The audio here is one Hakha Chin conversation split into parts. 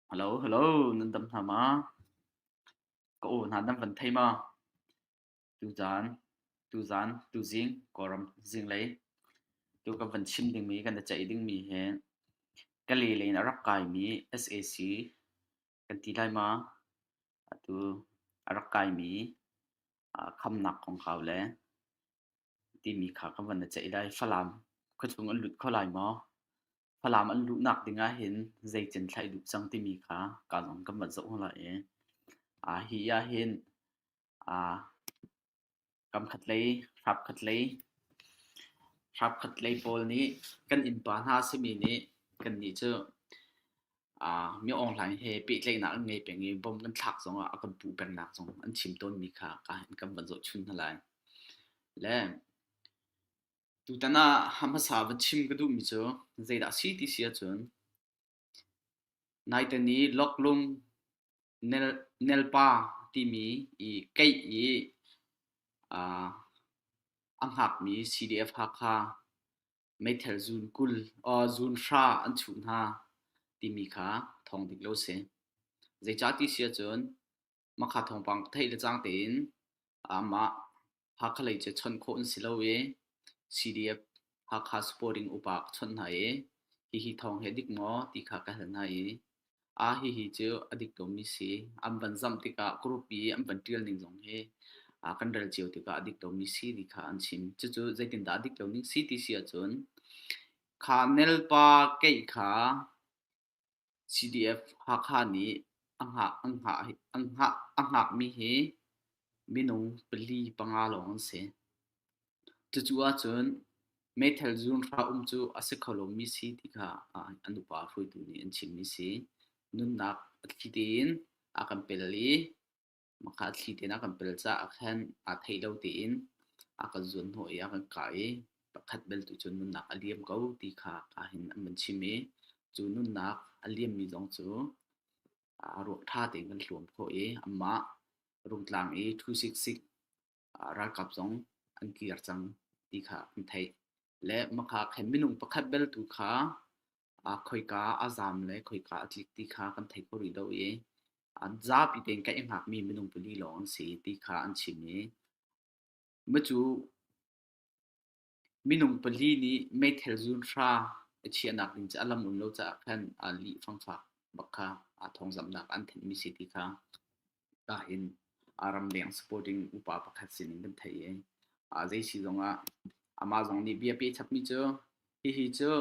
Halo, halo, nan dam hna ma? Ka aw hna nan van thei ma? Tuzaan, tuzaan, tuzing, Kawlram zinglei. Tu kan van chim dingmi, kan i ceih dingmi hi ka lele in a rak kaimi SAC kan ti lai ma? Atu a rak kaimi khamnak kongkau le timi kha ka van i ceih lai. Falam khuachung an lut kho lai maw? Falam an luhnak ding ahhin zeitin thlaih duh cang timi kha ka lawng kan van zoh lai i aa hi ahhin aa kamkhat lei, hrapkhat lei, hrapkhat lei pawl nih kan innpa hna a simi nih kannih cu Ah, mi online he pehtlaihnak an ngei peng i bom kan thlak zongah a kan puh pengnak zong an chim tawnmi kha ka in kan van zohchun hna lai. Le tutan ah hmasa va chim ka duhmi cu zeidah a si ti si ahcun naiten i Loklum Nel Nelpa timi i keih i ah, a hngakmi CDF Hakha meithal zuun kul or zuun hra an chuh hna timi kha thawng dik lo si. Zeicah ti si ahcun makha thawngpang theih le cang tein mah Hakha lei cu chawnh khawh an si lo i CDF Hakha Supporting upa chawnh hna i hihi thawng he dik maw ti kha ka hal hna i Ah hihi cu a dik komi si. An van zamh tikah group i an van ṭial ning zong hi ah kan rel cio tikah a dik komi si ti kha an chim. Cucu zeitindah a dik komi si ti si ahcun kha nelpa keih kha CDF Hakha nih a hngah an hngah an hngah a hngakmi hi minung pali panga lawng an si. Cucu ahcun meithal zuunhra um cu a si kho lomi si ti kha an upa hruaitu nih an chimmi si. Nunnak a thli tein a kan pel i mah a thli tein a kan pel caah ahkhan aa theih lo tein a kan zuanhnawh i a kan kah i pakhat bel tu cu nunnak a liam ko ti kha hin an van chim i cu nunnak a liammi zong cu ruah ṭha tein kan hluam khawh i amah rungtlang i ṭhu siksik ralkap zong an kir cang ti kha an theih. Le Makha khin minung pakhat beltu kha khoika a zaam le khoika a tlik ti kha kan thei kho rih lo i zapi tein kan i hngakmi minung pali lawng an si ti kha an chim i macu Minung pali nih meithal zuunhra a chiahnak in a lam um lo caah khan aa lih fangfak bak kha aa thawngzamhnak an thanhmi si ti kha kaa in aa ramleng supporting upa pakhat sinin kan theih i aa zei si zongah amah zong nih bia pe chapmi cu hihi cu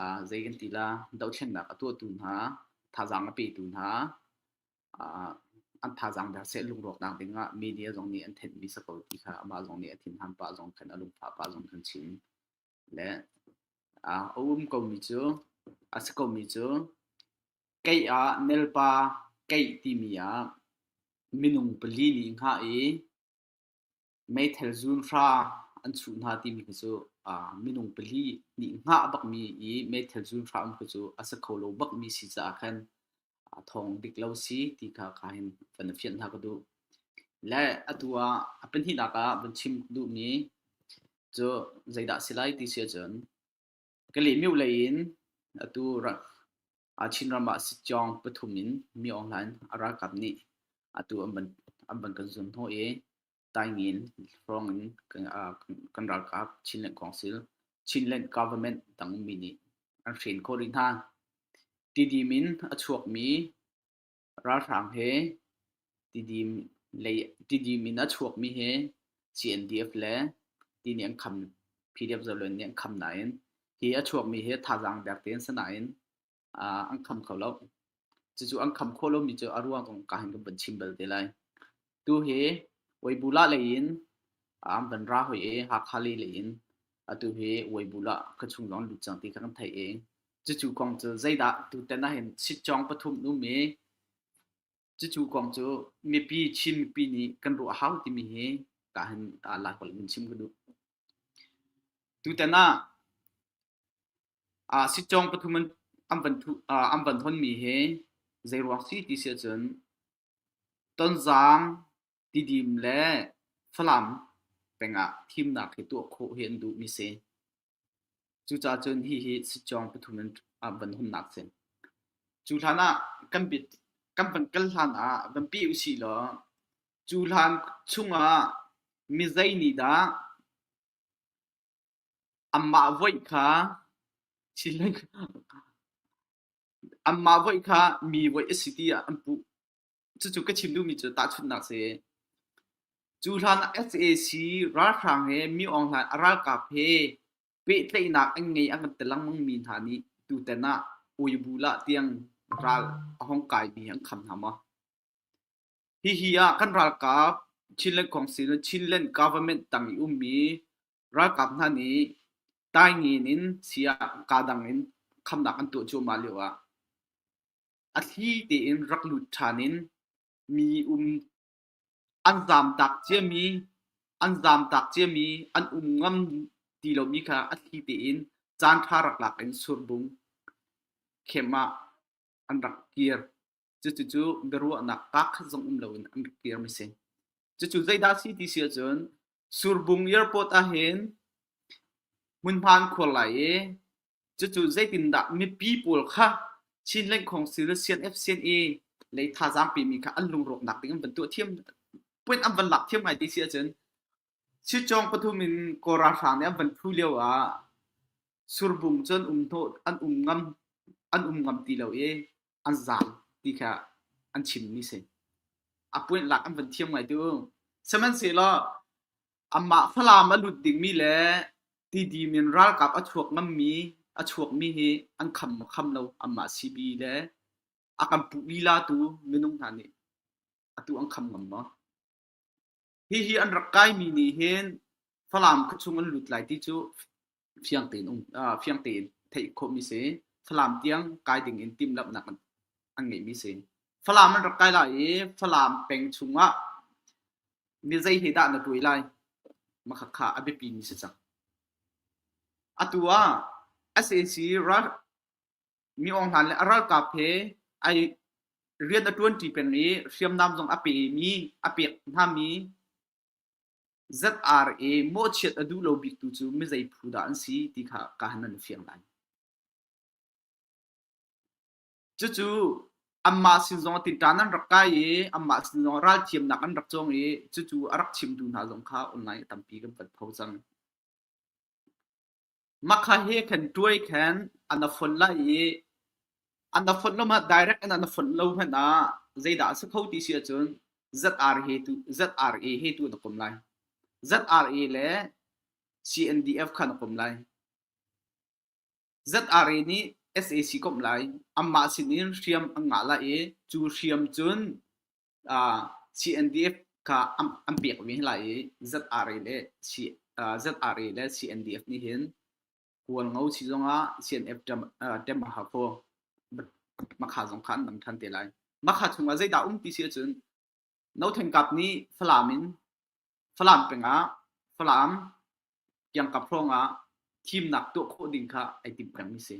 aa zei kan ti la dohthlennak a tuahtu hna thazaang a petu hna an thazaang der seh lungrawknak dingah media zong nih an thenhmi si ko ti kha amah zong nih a thinhan pah zong khan a lungphah pah zong khan chim le a um komi cu a si komi cu kei ah nelpa keih timi ah minung pali nih hngah i meithal zunhra an chuh hna timi khi cu minung pali nih hngah bakmi i meithal zunhra um khi cu a si kho lo bakmi si caah khan thawng dik lo si ti kha ka hin van i fianh hna ka duh. Le atu ah a pahnihnak ah van chim ka duhmi cu zeidah a si lai ti si ahcun Kalymyo lei in atu rak Chinram ah sitcawng pathum in Mi Aung Hlaing a ralkap nih atu an van kan zum hnu i Taingin hrawng in kan ralkap Chinland Council, Chinland Government tang ummi nih an hren khawh rih hna. Tidim in a chuakmi Ralhrang he tidim in a chuakmi hi CNDF le ti nih an kham PDF-Zoland nih an kham nain hi a chuakmi hi thazaang dek tein si nain an kham kho lo. Cucu an kham khawh lomi cu a ruang zong ka hin kan vun chim bal te lai. Tuhi Weibula leiin an van ra hoi i Hakha le leiin atu hi Weibula ka chung lawng lut cang ti kha kan theih i cucu kong cu zeidah tutan ahhin sitcong pathum um i cucu kong cu mipi Chin mipi nih kan ruah hau timi hi kahin lai kol in chim ka duh tutan ah ah sitcong pathum an van thu an van honmi hi zei ruang si ti si ahcun Tonzang, Tidim le Falam pengah thimnak hi tuah khawh hi an duhmi a si. Cucacun hihi sicawng pathum in van hunnak a si. Cu hlanah kan pit- kan van kal hlanah van pih usih law cu hlan chungah mizei nih dah anmah voih kha thil an- Anmah voih kha mi voih a si tiah an puh. Cucu ka chim duhmi cu tahchunhnak si. Cu hlan ah sac ralhrang he mi aung hlan a ralkap he pehtlaihnak an ngei an kan ti lengmangmi hna nih tutan ah uibul ah tiang ral a hong kaimi an kham hna maw? Hihi ah kan ralkap Chinland Council le Chinland government tang i ummi Ralkap hna nih Taingin in saya kadang in khamnak an tuah cuahmah lio ah a thli tein rak lut ṭhan in mi um an zaamtak ciami an zaamtak ciami an um ngam ti lomi kha a thli tein caanṭha rak lak in surbung khem ah an rak kir. Cucu biaruahnak kaa khat zong um loin an rak kir mi si. Cucu zeidah si ti si ahcun Surbung airport ahhin hmunhmaan khuar lai i cucu zeitindah mipi pawl kha Chin Lengkhong Civil CNFCNE lei thazaang pemi kha an lungrawknak ding an van tuah thiam point an van lak thiam hai ti si ahcun Chitcawng pathum in Kawl ralhrang nih an van thu lio ah Surbung cun an um ngam ti lo i an zaam ti kha an chimmi a si. A puintlak an van thiam ngaitu. Sihmanhsehlaw anmah Falam a lut dingmi le Tidim in ralkap a chuakmi hi an kham lo anmah CB le a kan puh lilatu minung hna nih atu an kham ngam maw? Hihi an rak kaimi nih hin Falam khua chung an lut lai ti cu fiang tein um fiang tein theih khawhmi si. Falam tiang kai ding in timhlamhnak an ngeihmi si. Falam an rak kai lai i Falam peng chungah mizei he dah na tuai lai makhakha a biapimi si cang. Atu ah SAC Mi Aung Hlain le a ralkap he ai rian a ṭuanṭi peng i hriamnam zong a pemi a pek hngami ZRA mawhchiat a duh lo biktu cu mizei phu dah an si ti kha ka han an fiang lai. Cucu anmah sin zong tinṭan an rak kai i anmah sin zong ral thiamnak an rak cawng i cucu a rak chimtu hna zong kha online tampi kan panh kho cang. Makha he khan ṭuai khan a na fonh lai i an na fonh lo hmanh direct in an na fonh lo hmanh ah zeidah a si kho ti si ahcun ZRE tu ZRE he tu na kom lai. ZRE le CNDF kha na kom lai. ZRE nih SAC komh lai. Anmah sin in hriam an ngah lai i cu hriam cun CNDF kha an pekmi hin lai i ZRA le ZRA le CNDF nih hin kuan ngo si zongah CNF tem a ha kho makha zong kha an dang than te lai makha chungah zeidah um ti si ahcun no theng kap nih Falam in Falam pengah Falam kiangkap hrawngah thimnak tuah khawh ding kha ai tim peng mi si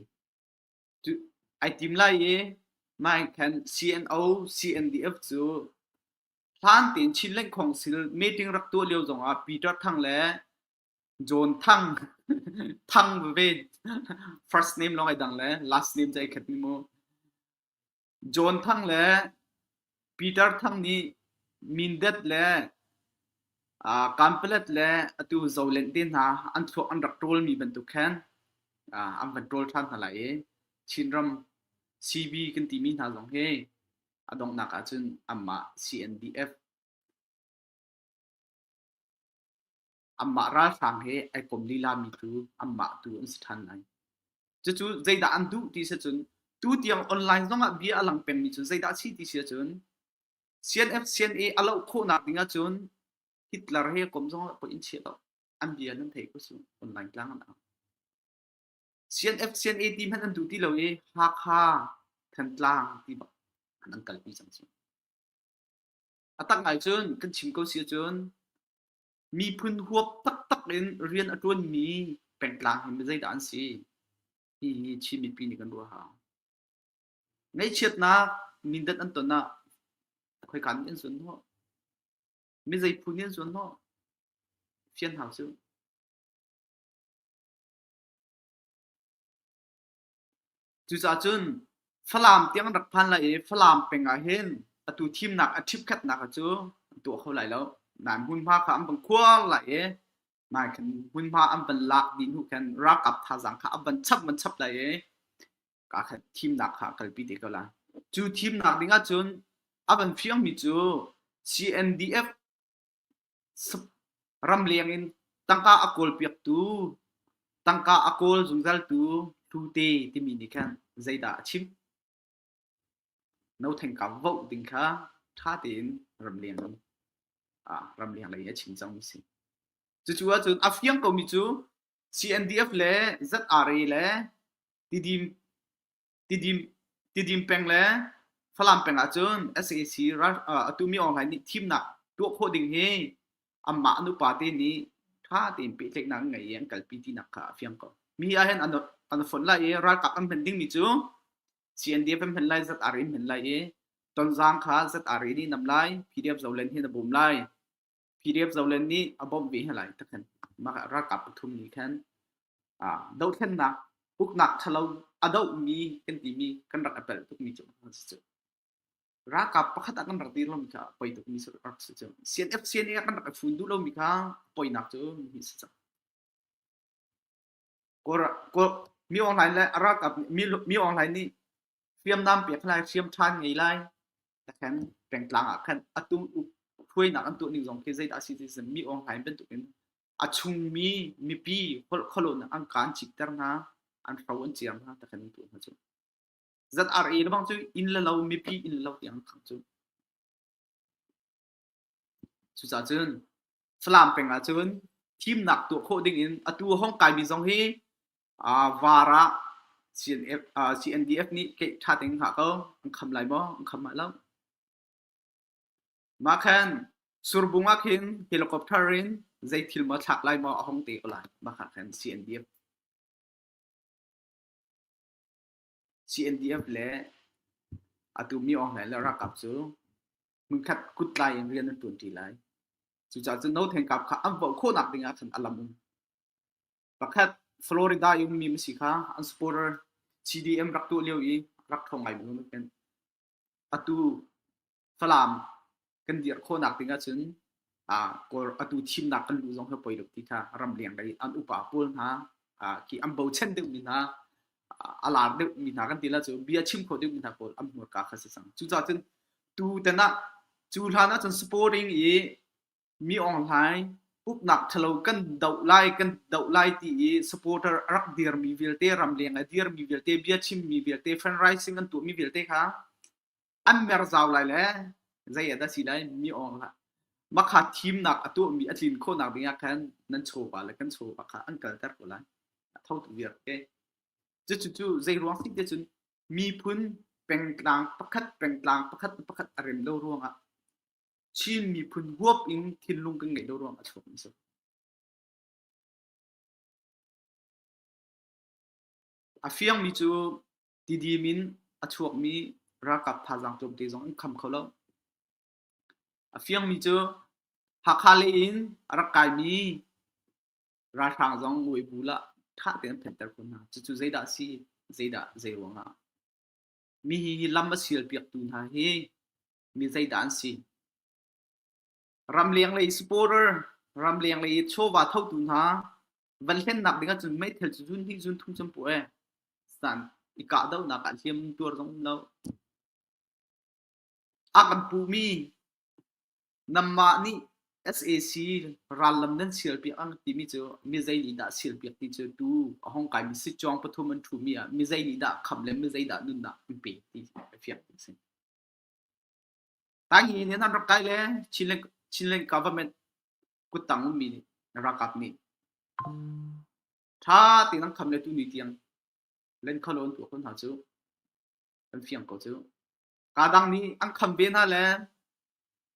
ai tim lai i nai khan CNO CNDF cu hlan tein Chin Lengkhong sil meeting rak tuah lio zongah Peter Thang le John Thang Thang ve first name long ai dang le last name cai khat ni mu John Thang le Peter Thang nih Mindat le Kanpalet le atu zolen te hna an thluak an rak ṭawlmi bantuk khan an van ṭawl ṭhan hna lai i Chinram CV kan timi hna zong hi a donghnak ahcun anmah CNDF Amah ralhrang he ai kom lilami cu amah tu an si ṭhan lai. Cucu zeidah an duh ti si cun tu tiang online zongah bia a lang pengmi cu zeidah a si ti si cun CNF CNA a loh khawhnak ding ahcun Hitler he kom zongah pawh in chiah lo an bia nan thei ko cu online tlang an ang. CNF CNA ti hmanh an duh ti lo i Hakha Thantlang ti bak an an kalpi cang cu. A tak ngai cun kan chim ko si cun Miphun huap taktak in rian a ṭuanmi pengtlang hi zeidah an si? Hihi Chin mipi nih kan ruahah. Ngaihchiatnak, mindat an ton ah khoi kan in sun hnawh. Mi zeiphun in sun hnawh. Fian hau cu. Cucaah cun Falam tiang rak phan lai i Falam peng ah hin atu thimnak a ṭhipkhatnak kha cu an tuah kho lai lo. Nain hmunhma kha an van khuar lai i mai khan hmunhma an van lak dih hnu khan ralkap thazaang kha a van chap van chap lai i kaa khat thimnak kha a kalpi te ko lai. Cu thimnak ding ahcun a van fiangmi cu CNDF Ramleng in tangka a kawlpiaktu, tangka a kawl zungzaltu hlute timi nih khan zeidah a chim? No thengka voh ding kha ṭha tein ramleng lei a chim cang a si. Cucu ahcun a fiang komi cu CNDF le ZRA le Tidim Tidim peng le Falam peng ahcun sac atumi online nih thimnak tuah khawh ding hi anmah an upate nih ṭha tein pehtlaihnak ngei i an kalpi tinak kha a fiang ko. Mi ahhin an fonh lai i ralkap an hman dingmi cu CNDF an hman lai, ZRA an hman lai i Tonzang kha ZRA nih nam lai, PDF Zoland hi na bawm lai. PDF Zoland nih a bawmh ve hna lai ta khan mah ralkap pathum nih khan dothlennak uknak thalo a dohmi kan timi kan rak apel tukmi cu cu ralkap pakhat ah kan rak dir lomi kha poi tukmi cu rak si cu CNF CNA kan rak fun duh lomi kha poinak cu mi si cang Mi online le a ralkap mi online nih hriamnam pek lai, hriam ṭhan ngei lai. Tikhan pengtlang ah khan a tum hruainak an tuah ning zong khi zeidah a si ti mi online bantukin a chungmi mipi holh khualonak an kaan citter hna, an hro an ciar hna tikhan an tuah hna cu. ZRA lebang cu inn le lo, mipi inn le lo tiang an khang cu. Cucaah cun Falam peng ah cun thimnak tuah khawh dingin atu a hong kaimi zong hi VAR ah CNDF nih keih ṭha ding hnga ko. An kham lai maw? An kham mah lo. Mah khan Surbung ah khin helicopter in zei thil maw thlak lai maw a hong te ko lai. Mah kha khan CNDF CNDF le atu mi Aung Hlain le ralkap cu hmunkhat kut lai in rian an ṭuanṭi lai. Cucaah cun no theng kap kha an voh khawhnak ding ah khan a lam um. Pakhat Florida i ummi masi kha an supporter CDM rak tuah lio i rak ṭhawng ngai bang an pen. Atu Falam kan dir khawhnak ding ahcun atu thimnak kan lu zong hi poi lo ti kha ramleng lei an upa pawl hna ki an bochan deuhmi hna a lar deuhmi hna kan ti la cu bia chim kho deuhmi hna pawl an hmurka kha si cang cucaah cun tu tan ah cu hlan ahcun sporting i mi online uknak thalo kan doh lai kan doh lai ti i supporter a rak dirmi vialte ramleng a dirmi vialte bia chimmi vialte fan rising an tuahmi vialte kha an mer zau lai le zei ah dah si lai mi awng hlah makha thimnak a tuahmi a tlin khawhnak dingah khan nan chawpa le kan chawpa kha an kalter ko lai a tho tu viar ke cucu cu zei ruang ti te cun miphun pengtlang pakhat pengtlang pakhat pakhat a rem lo ruangah Chin miphun huap in thinlung kan ngeih lo ruang a chawm so a fiang mi cu Tidim in a chuakmi ralkap thazaang tlawmte zong an kham kho lo. A fiangmi cu Hakha lei in a rak kaimi ralhrang zong Weibull ah ṭha tein an phenhter khun hna. Cucu zeidah a si, zeidah zei ruangah? Mi hi hi lam a sialpiaktu hna hi mi zeidah an si? Ramleng lei supporter, ramleng lei chawva thotu hna Van hlennak ding ahcun meithal cu zun hnih zun thum cun puh ee. San i kahdohnak ah hliam tuar zong um lo. A kan puhmi nanmah nih SAC rallam nan sialpiak ang timi cu mizei nih dah sialpiak ti cu tu a hong kaimi sitcawng pathum an ṭhumi ah mizei nih dah khamh le mizei dah nunnak an pe ti a fiang ti a si. Tanghi nih an rak kai le Chinland government kuttang ummi nih na ralkap nih ṭha tein an khamh le tuni tiang lenkholo an tuah ko hna cu an fiang ko cu. Ka dang nih an kham ve hna le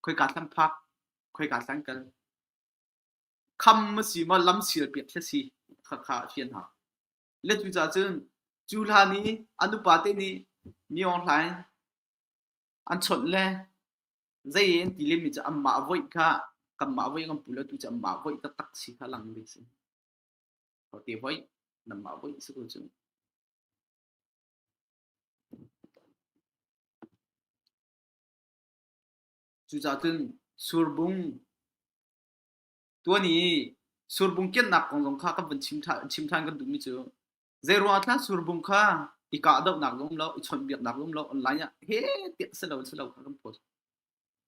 khoika thlan phak khoika thlan kal kham a si maw lam sial piak khi a si khakha a fian hna. Le cu cah cun cu hlan i an upate nih Nyeong Hlaing an chawnh le zei in tilim mi cu anmah voih kha kanmah voih kan pule tu cu anmah voih taktak si kha lang mi si ko te voih nanmah voih si ko cu cucacun surbung tuani surbung kennak kong zong kha kan vun chim ṭhan chim ṭhan kan duhmi cu Zeiruang ah tlah surbung kha i kahdohnak lum lo, i chawnhbiaknak lum lo online ah he tiah si lo si lo kha kan phut.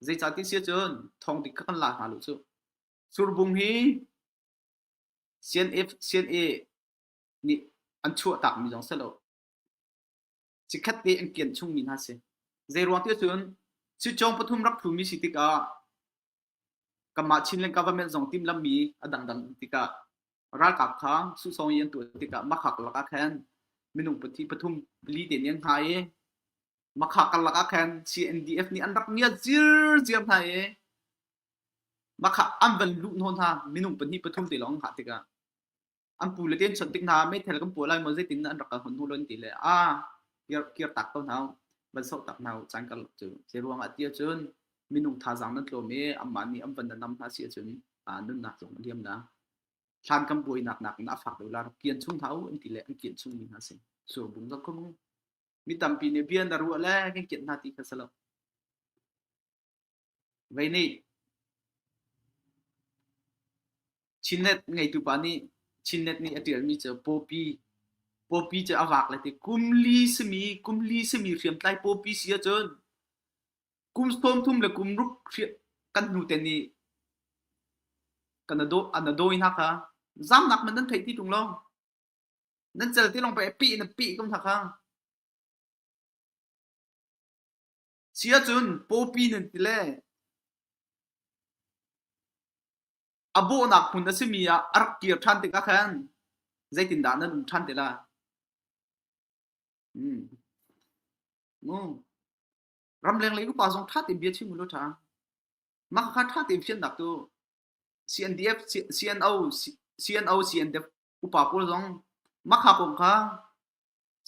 Zeicah ti sia cun thong dik kha kan la hna lu cu. Surbung hi CNF CNA nih an chuah tak mi zong si lo Cikhat te an kian chungmi hna si. Zeiruang ti cun, si cawng pathum rak phumi si tikah, kanmah Chin le government zong timlammi a dangdang tikah, ralkap kha susong i an tuah tikah makhak lakah khan minung pati pathum pali te nih an hna i makhak lakah khan CNDF nih an rak ngiat zirziar hna i makhak an van luh hnaw hna minung pahnih pathum te lawng hngah tikah an pu le te an chawnh tik hna meithal kan puah lai maw zeitin an rak kal hmanh hnu lo an ti le a kir kir tak ko hna van soh tak hna caan kar cu cu ruangah ti cun minung thazaang nan tlawm i amah nih an van nam hna si cun a nunnak zong a liam na thlan kan buai nak nak in a fak dolar kian chung hna u an ti le an kian chung mi hna si sur bung da khung mi tampi ne bian da ruah le kan kian hna ti kha salo Vei nih Chinnet ngeitu pa nih Chinnet nih a ṭialmi cu Pawpi Pawpi cu a vaak le ti kum li simi kum li simi hriamtlai Pawpi si ahcun kum sawm thum le kum ruk kan hnu te nih kan an a dawi hna kha zamnak man nan theih ti tung long nan cal ti long pe pih in a pih tung hna kha Si ahcun pawpi nan ti le a bawhnak hmun a simi ah a rak kir ṭhan tikah khan zeitindah nan um ṭhan ti lai? Hmm. Ramleng lei upa zong ṭha tein bia chim ulaw ṭha. Mah kha ṭha tein fiannak tu CNDF, CNO, CNO, CNDF upa pawl zong makha kong kha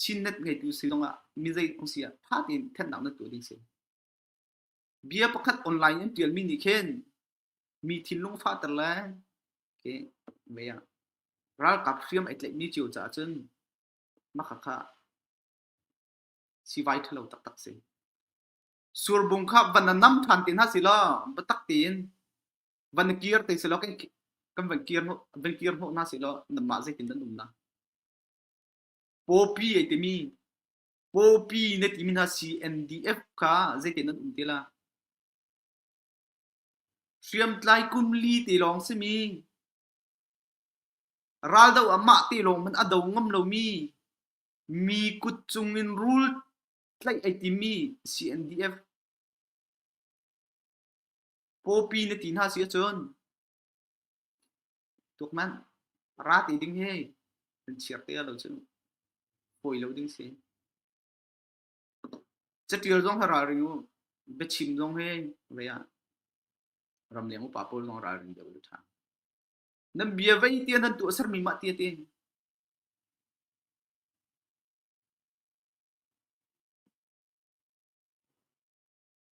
Chinnet ngeitu si zongah mi zei um si ah ttha tein thennak na tuah ding si. Bia pakhat online an tialmi nih khin mi thinlung fahter le ke mei ah ralkap hriam ai tlaihmi cio caah cun makha kha sivai thalo taktak si. Surbung kha van nam than te hna si lo batak tein van kir te si lo kan kan van kir hnu van kir hnu hna si lo nam ma zeitin nan um na. Pawpi ai timi Pawpi na timi hna CNDF kha zeitin an um te la? Hriamtlai kum li te lawng simi raldo amah te lawng man a do ngam lomi mi kut cungin rul tlaih ai timi CNDF Pawpi na ti hna si ahcun tuk manh ra ti ding hi nan chiar te lo cu hoi lo ding si catial zong ha ral ring u biachim zong he ve ah ram leng upa pawl zong ral ring deuh tha nan bia vei tia nan tu asar mi ma tia te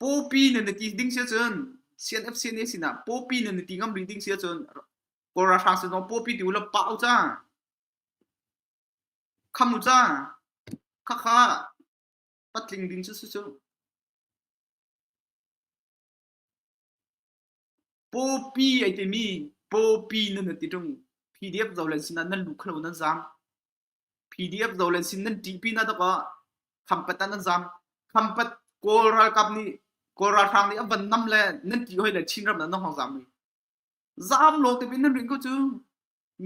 Pawpi nan i ti ding si ahcun CNFC nih a sinah Pawpi nan i ti ngam rih ding si ahcun Kawl ralhrang sin zong Pawpi ti u law pah u ca. Kham u ca. Khakha patling ding cu cu. Pawpi ai timi Pawpi nan i ti tung PDF zo le sinah nan lu khlo nan zaam. PDF Zolen sin nan ṭih pinah dok ah Khampat ah nan zaam. Khampat Kawl ralkap nih Kawl ralhrang nih an van nam le nan ṭih hoi le Chinram nan hong zaam mi. Zaam lo te pin nan rin ko cu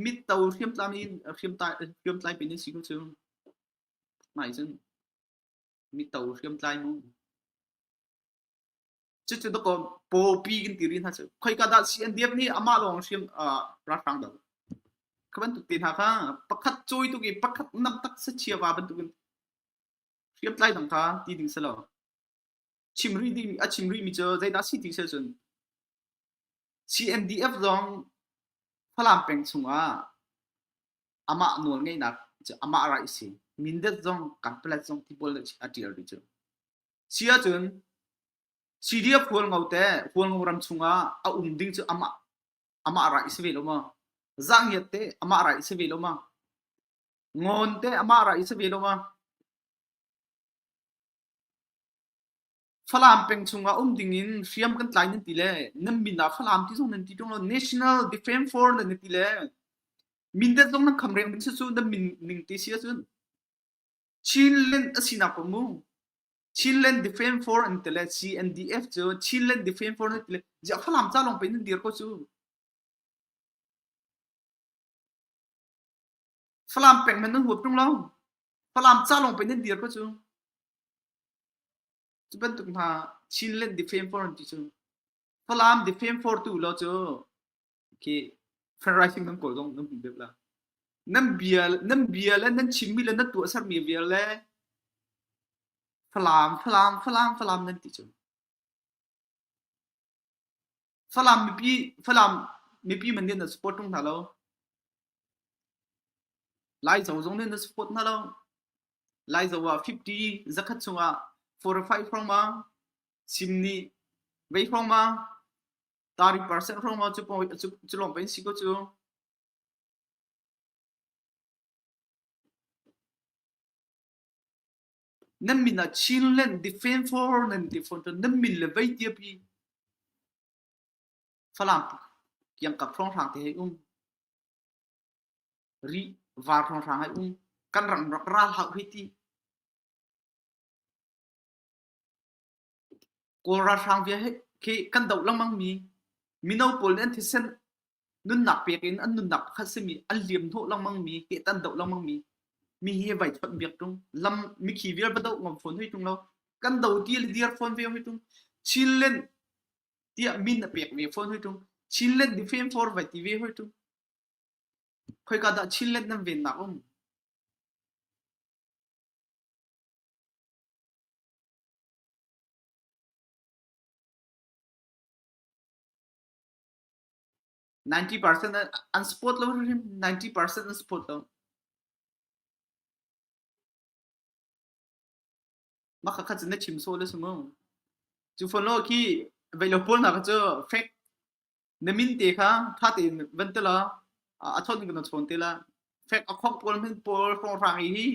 mit to hriamtlai in hriamtlai hriamtlai pin nan si ko cu. Mai cun mit to hriamtlai mu. cucu dako popi kan ti ri hna cu khoika dah CNDF nih amah lawng hrim ralhrang do kha bantuk te hna kha pakhat cui tuk i pakhat nam tak sa chia va bantuk in hriam tlai dang kha ti ding selo chim ri ding a chim ri mi cu zeidah si ti se cun CNDF zong Falam peng chungah amah nawl ngeinak cu amah ra isi mindet zong kan palet zong tibol a tial ri cu Si ahcun CD a phual ngo te phual ngo ram chungah a um ding cu amah amah ra i si ve lo ma zahniat te amah ra i si ve lo ma ngon te amah ra i si ve lo ma Falam peng chungah um dingin hriam kan tlai nan ti le nan min ah Falam ti zong nan ti ṭung lo National Defense Force nan ti le Mindat zong nan kham reng ding si cu nan min ning ti si ahcun Chinland a sinak paoh mu. Chinland Defence Force an ti le CNDF cu Chinland Defence Force an ti le ziak Falam ca lawng pin an dir ko cu. Falam peng man nan huap tung lo. Falam ca lawng pin an dir ko cu. Cu bantuk hna Chinland Defence Force an ti cu. Falam Defence Force tu lo cu khi fan writing kan kawl zong nan hum bep la nan bia nan bia le nan chimmi le nan tuah sermi vial le falam falam falam falam nan ti cu falam mipi falam mipi man nih na support tung hna lo lai zo zong nih na support hna lo lai zo ah 50 zakhat chung ah 4 or 5 hrawng ma sim ni vei hrawng ma Taari percent hrawng ah cu lawng va in si kaw cu. Nan min ah Chinland defend for nan ti fawn cun nan min le vei tiapi Falam kiangkap hrawng hrang te hei um. Ri var hrawng hrang hei um. Kan ram rak ral hak hi ti. Kawl ralhrang vial khi kan doh lengmang mi mino pawl nih an thisen nunnak pek in an nunnak pakhat simi an liam hnawh lengmang mi kehtah an doh lengmang mi mi hi vai chawnh biak ṭung lam mikhi vial va doh ngam fawn hoi ṭung lo kan do ti le dir fawn ve hoi ṭung Chin Lent tiah min a pek ve fawn hoi ṭung Chin Lent defame for vai ti ve hoi ṭung khoika dah Chin Lent nan vennak um 90% an support lo hrim 90% an support lo maka kha cin na chim so le sumu chu phon lo khi vei lo pol na ka chu fake na min te kha tha te van te la a chon ni na chon te la fake a khok pol min pol phong rang hi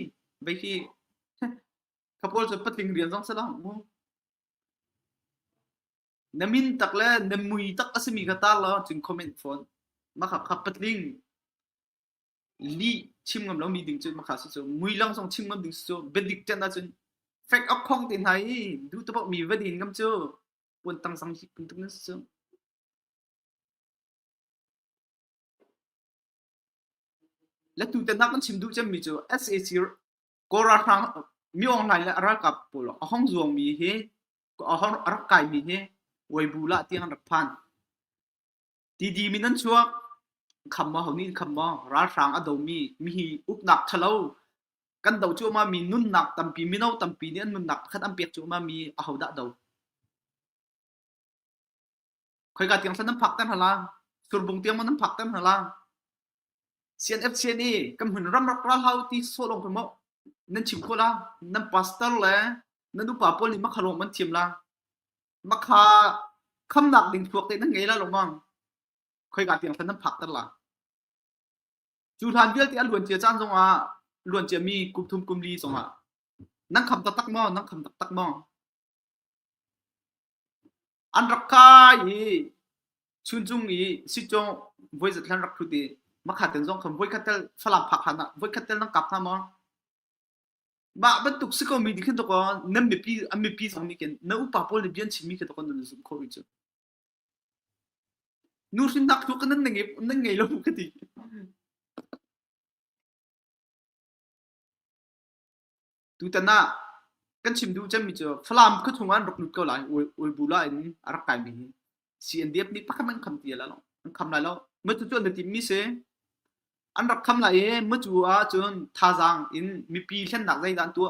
vei khi Ka pawl cu patling rian zong si lo. Na min tak le na mui tak a simi kha tar law cun comment fawn. Makha kha patling li chim ngam lomi ding cu makha su cu mui long song chim ngam ding su bedik ten ah cun fek ok khong te hna i du to mi va din ngam cu puan tang sang hi pun tuk na su la tu te nak kan chim du chem mi cu SAC Kawl ralhrang mi online le ralkap pawl a hong zuangmi hi a rak kaimi hi Weibu lah tiang an rak phan. Tiddim in an chuak. Khamma ho nih khamma ralhrang a domi mi hi uknak ṭhalo kan do cuahmah mi nunnak tampi mino tampi nih an nunnak pakhat an pek cuahmah mi ahodah do? Khoika tiang hlan nan phakter hna la? Surbung tiang maw nan phakter hna la? CNFC nih kan hmun ramrak ralhau ti sawlawng pe maw nan chim khawh la? Nan pastor le nan upa pawl nih makha lawng an thiam la? Makha khamnak ding thluak te nan ngei la lawmang. Khoika tiang hlan nan phakter la? Cu hlan vialte a luan cia caan zongah, luan ciami kum thum kum li zongah nan kham taktak maw? Nan kham taktak maw? An rak kai i chunchung i sicawh voizat hlan rak hrut i makhaten zong khan voikhat tal Falam phak hlan ah voikhat tal nan kap hnga maw? Mah bantuk si ko mi nih khin dawkaw nan mipi an mipi zong nih khin na upa pawl nih bia an chimmi kha dawkaw nan zumh khawh rih cu. Nu hrinnak cu ka nan na ngei nan ngei lo ka ti. tutan ah kan chim duh cemmi cu Falam khua chung an rak lut ko lai Uibu la in a rak kai mi hi CNDF nih pakhat an kham ti la lo an kham lai lo mu cu an tim mi se an rak kham lai e mu cu ah cun thazaang in mipi thlennak zeidan tu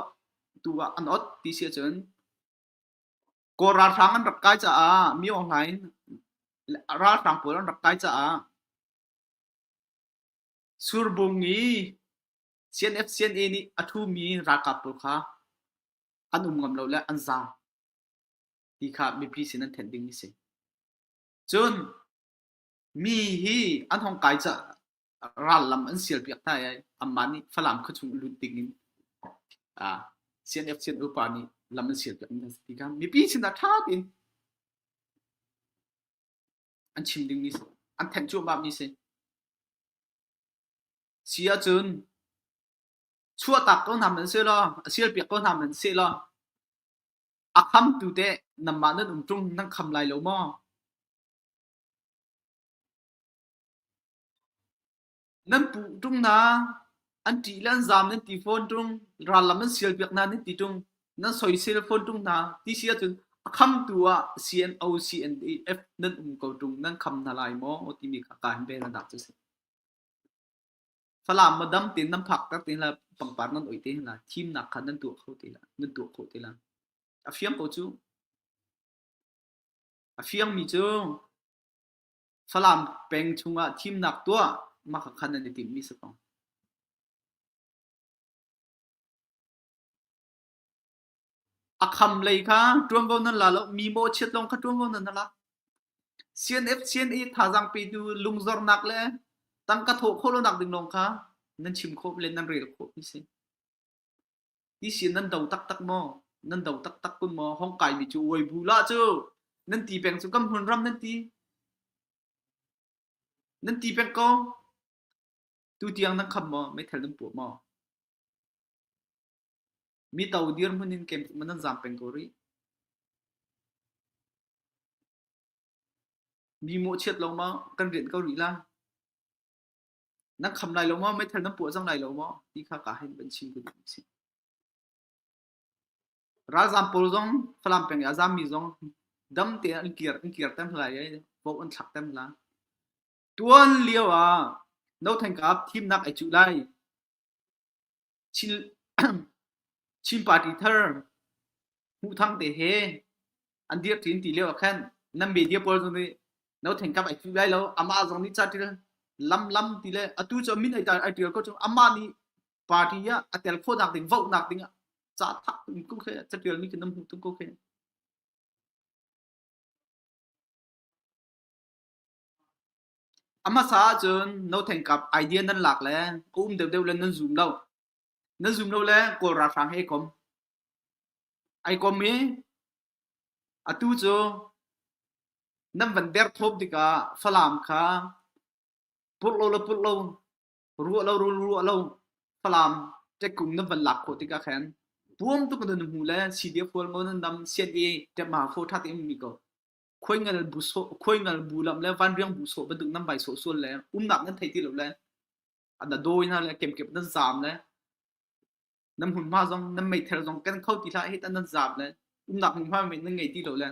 tu an ot ti si cun kaw ralhrang an rak kai caah mi aw ngain ralhrang pawl an rak kai caah surbung i CNFCNA nih a ṭhumi ralkap pawl kha an um ngam lo le an zaam ti kha mipi sin an thenh ding a si. Cun mi hi an hong kai ca ral lam an sial piak hna i amah nih Falam khua chung lut ding in CNFCNU pa nih lam an sial piak ding a si ti kha mipi sin ah ṭha tein an chim ding mi, an thanh cuahmah mi si. Si ahcun chuahtak ko hna hmanh sehlaw, a sialpiak ko hna hmanh sehlaw, a khamtu teh nanmah nan um ṭung nan kham lai lo maw? Nan puh ṭung hna, an ṭih le an zaam nan ti fawn ṭung, rallam an sialpiak hna nan ti ṭung, nan soisel fawn ṭung hna, ti si ahcun a khamtu ah CNO, CNF nan um ko ṭung, nan kham hna lai maw? timi kha ka in rel hna cu a si. Falam maw dam tein nan phakter ti lai, pangpar nan oi te hin lai, thimnak kha nan tuah kho ti lai, nan tuah khawh ti lai. A fiang ko cu. A fiangmi cu Falam peng chungah thimnak tuah mah kha nan i timhmi si ko. A kham lei kha ṭuanvo nan la lo, mi mawhchiat lawng kha ṭuanvo nan la. CNF CNA thazaang petu lungzornak le tangka thawh khawh lonak ding lawng kha nan chim khawh le nan rel khawh mi si. Ti si nan do taktak maw? Nan do taktak kun maw? Hong kai mi cu uai bu la cu nan ti peng cu kan hmun ram nan ti. Nan ti peng ko. Tu tiang nan kham maw? Meithal nan puah maw? Mito dirhmun in keimah nan zaam peng ko rih. Mi mawhchiat lo maw kan rianh ko rih lai? Nan kham lai lo maw? Meithal nan puah cang lai lo maw? Ti kha kaa hin van chim kan si. Ralzaam pawl zong Falam peng i a zaammi zong dam tein an kir an kir tem lai i vote an thlak tem lai. Tuan lio ah No Thanh Kap thimnak ai cuh lai. Chin party thar hmuhthang te he an dirh ṭi an ti lio ah khan nan media pawl zong nih no ṭhenkam ai ṭih lai lo amah zong nih ca ṭial lam lam ti le atu cu a min ai ṭal ai ṭial ko cang amah nih party ah a tel khawhnak ding vohnak ding ah ca thak in ko khi ca ṭialmi khi nan hmuh tung ko khi. A hmasa ahcun nothengkap idea nan lak le a um deuhdeuh le nan zum lo. Nan zum lo le Kawl ralhrang he i kom. Ai kom i atu cu nan van derthawp tikah Falam kha purh lo le purh lo, ruah lo rul ruah lo Falam ṭekum nan van lak khawh tikah khan buang tuk in nan hmu le CDF hual maw nan dam sian i ṭemhma fawṭha tein um mi ko. khuingal bu lam le vanriang bu sawh bantuk nan vai sawh sual le umnak nan thei ti lo le na dawi na le kemkep nan zam le nan hmunhma zong nan meither zong kan kho ti hlah hi ta nan zam le umnak hmunhma men nan ngei ti lo le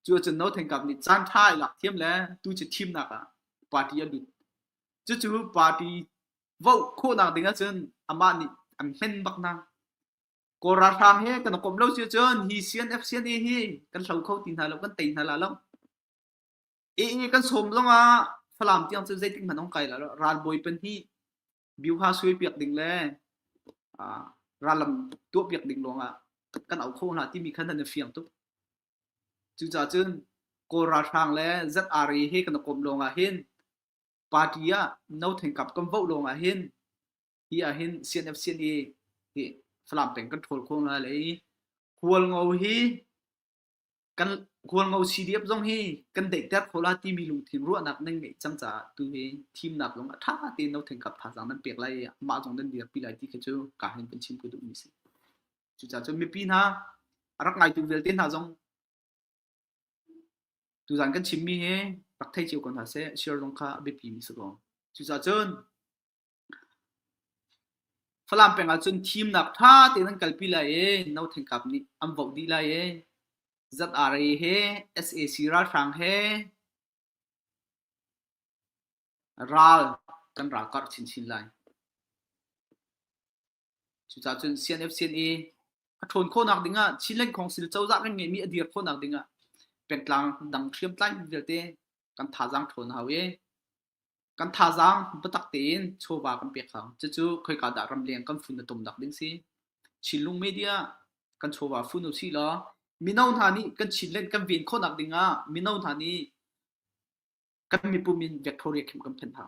cu cun no thengkap nih caan tha ai lak thiam le tu ci thim nak ah party a lut cu cu party vote khawh nak ding ah cun amah nih an hmen bak na Kawl ralhrang he kan komh lo cio cun hi CNF CNA hi kan hlo kho ti hna lo, kan tei hna la lo. Ii kan sawm zongah Falam tiang cu zeitik hmanh ong kai la lo. Ralbawi pan hi Bioha suai piak ding le ah, rallam tuah piak ding lawngah kan au kho hna timi khan an i fiang tuk. Cucaah cun Kawl ralhrang le ZRA he kan i kom lawngah hin party ah no thengkap kan voh lawngah hin hi ah hin CNFCN i hi Falam peng kan ṭhawl khawh ngai lai Khualngo hi kan Khualngo CDF zong hi kan daihter kho la timi lungthin ruahnak nan ngeih cang caah tu hi thimnak zong a ṭha tein no thengkap thazaang nan pek lai mah zong nan dirpi lai ti khi cu ka hin kan chim ku duh mi si cucaah cun mipi hna a rak ngaitu vialte hna zong tuzan kan chimmi hi rak thei cio ko hna seh share zong kha a biapi mi si ko cucaah cun Falam peng ahcun thimnak ṭha tein an kalpi lai i no thangkap nih an voh dih lai i ZRA he sac ralhrang he ral kan ralkar chinchin lai. Cucaah cun CNFCNA a ṭhawn khawhnak ding ah Chinland Council cozah kan ngeihmi a dir khawhnak ding ah pengtlang dang hriamtlai vialte kan thazaang ṭhawn hau i Kan thazaang biatak tein chawva kan pek hna. Cucu khoika dah ramleng kan fun a tum nak ding si. Chinlung media kan chawva fun usih law mino hna nih kan Chinland kan ven khawh nak ding ah mino hna nih kan mipum in vektho riak him kan phen hna.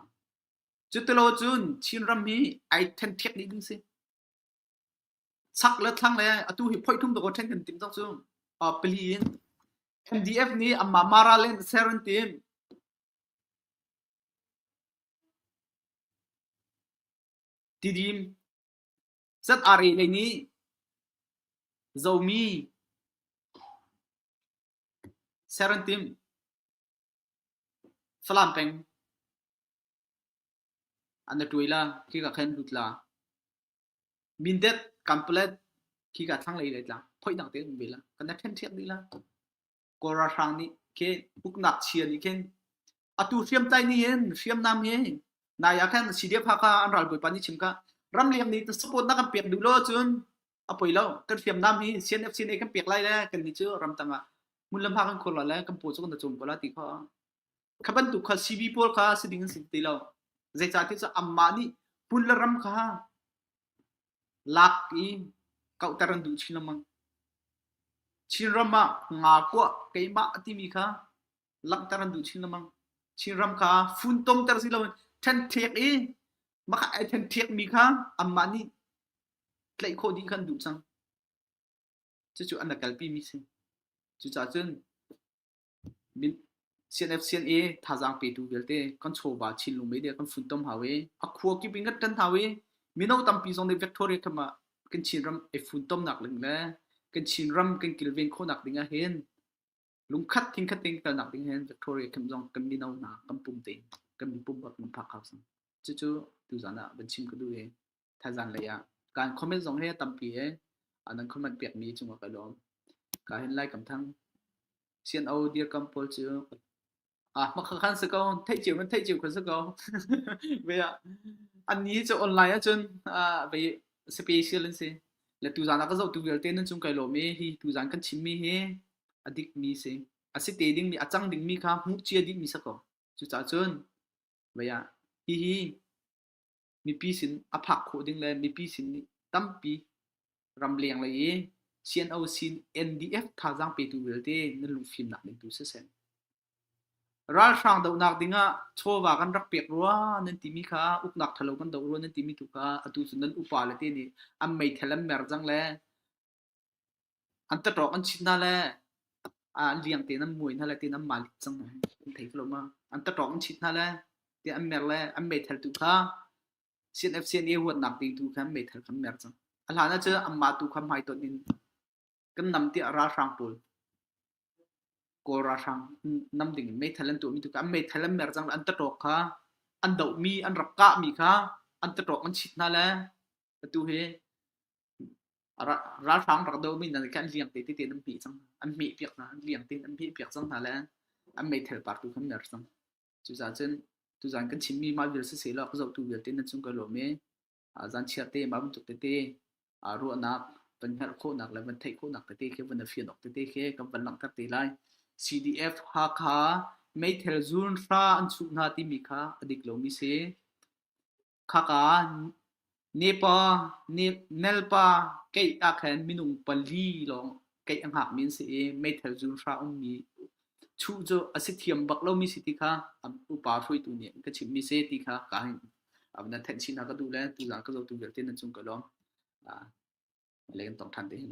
Cu ti lo cun Chinram hi ai thenthek dih ding si. Sak le thlang le atu hi phoi thum dawh then kan tim tok cu. Uh, pali in MDF nih amma Maraland ser an tim. Tidim cat aa reh lei nih zomi ser an timh. Falam peng an na tuai la khi ka khan lut la. Mindet kampalet khi ka thlang lei lai tla. Phoi dang te um ve la. Kan na ṭhen ṭhiak dih la. Kawl ralhrang nih khin uknak chia nih khin atu hriamtlai ni hin hriamnam hi nai ah khan CDF haka an ral bawipa ni chim ka ramleng nih support na kan pek duh lo cun a poi lo kan hriamnam hi CNF CNA kan pek lai le kan ni cu ram tang ah mun lam ha kan khor la le kan po chu kan chung ko la ti kho kha bantuk kha CB pawl kha si ding an si ti lo zeicah ti cu amma nih pun le ram kha Lak i kauhter an duh chin lengmang. Chinram ah nga kuah keimah a timi kha langhter an duh chin lengmang. Chinram kha funtomter si loin ṭhenṭhek i makha ai ṭhenṭhekmi kha anmah nih tlaih khawh ding kha an duh cang. Cucu an rak kalpimi a si. Cucahcun CNF sian i thazaang petu vialte kan chawva Chinlung media kan funtom hau i a khua kip in kan ṭan hau i mino tampi zong nih Victoria khamah ah kan Chinram i funtomnak ding le kan Chinram kan kilven khawhnak ding ah hin lungkhat thingkhat in kalnak ding hin Victoria khamh zong kan mino hna kan pum te kan pum bak kan phak hau cang. Cucu tuzan ah van chim ka duh i thazan lei ah kan comment zong he tampi he anan comment piak mi cung ka lawm ka hin lai kam thang sian o dir kam pol chu ah ma kha khan se ko thei chiu man thei chiu khon se ko ve a an ni cho online a chun a ve special an si le tu zan ka zo tu vel ten chung kai lo mi hi tu zan kan chim mi hi adik mi si asi te ding mi achang ding mi kha mu chia ding mi sako chu cha chun ve a hi hi mipi sin a phak khawh ding le mipi sin nih tampi ram leng lei i CNOC NDF thazaang petu vialte nan lungfimnak ding tu si sen. Ralhrang dohnak ding ah chawva kan rak pek rua nan timi kha uknak thalo kan do rua nan timi tu kha atu cun nan upa le te nih an mei thelan mer jang le An taṭawk an chit hna le aa liang tein an muai hna le tiin an malit cang. An thei kho lo ma? An taṭawk an chit hna le tiah an mer le an meitheltu kha CNFCNA huatnak dingtu kha an meithal kha an mer cang. A hlan ah cu anmah tu kha hmaitonh in kan nam tiah ralhrang pawl Kawl ralhrang nam ding in meithal an tuahmi tu kha an meithal an mer cang le an taṭawk kha an dohmi, an rak kahmi kha an taṭawk an chit hna le atu hi Ralhrang rak domi hna nih khan liang te tete an pih cang. An hmeh piak hna, liang te an hmeh piak cang hna le an meithal partu kha mer cang. Cucaah cun tuzan kan chimmi mah vial sisehlaw a ka zohtu vialte nan cung ka lawm i zanchia te mah bantuk tete ruahnak van hngalh khawhnak le van theih khawhnak tete khi van fian awk tete khi kan van langhter te lai. CDF Hakha meithal zun hra an chuh hna timi kha a dik lomi si. khaka nepa nelpa keih ahkhan minung pali lawng keih a hngakmi an si i meithal zun hra ummi chuh cu a si thiam bak lomi si ti kha upa hruaitu nih ka chimhmi si ti kha ka hin avna thenh chinah ka duh le tuzaan ka zotu vialte nan cung ka lawm leng tong than te hin